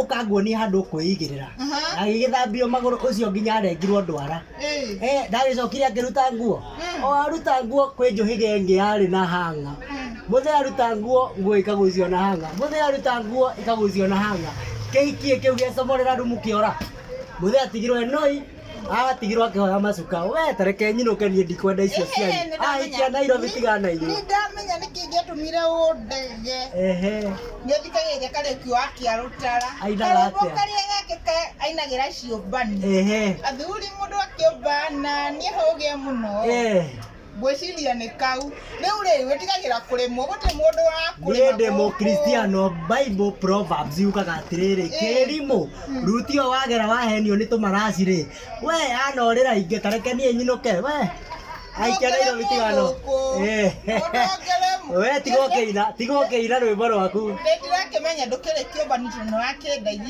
ũka nguonie handũ ũkwĩigĩrĩra agĩgĩthambio magũrũ ũcio nginya arengirwo ndwara ndagĩcokire akĩruta nguo o aruta nguo kwĩ njũhĩga ĩngĩ yarĩ na hanga mũthee aruta nguo nguo ikagucio na hanga mũthee aruta nguo ikagucio na hanga kĩhikie kĩu gĩacomorera rumu kĩora mũthee atigirwo e noi atigirwo akĩhoya macuka we tareke nyinũke niĩ ndikwenda icio cianyu aikia nairobi tiga na inyuĩ nĩndamenya nĩkĩ ingĩatũmire ũndege ehe nĩthikagĩrĩria karĩki wa kĩarũtara Ainaga atĩa? Karĩmbo karĩa gake ka- ainagĩra ciũmbani ehe athuri mũndũ akĩũmbana niĩ hũgĩa mũno eh Ngwĩciria nĩ kau. Rĩu rĩ, wĩtigagĩra kũremwo, gũtirĩ mũndũ wa kũremwo. Niĩ ndĩ mũkristiano, Bible Proverbs yugaga atĩrĩrĩ, kĩrimũ, ruti ĩyo wagera wahenio nĩ tũmaraci rĩ, we anorĩra ingĩ, ta reke niĩ nyinũke, we aikia Nairobi tigano. Eh. We tiga ũkĩina, tiga ũkĩina rwĩmbo rwaku. Ndĩtirakĩmenya ndũkĩrĩ kĩũmba nĩ tondũ nĩ wakĩndaithia.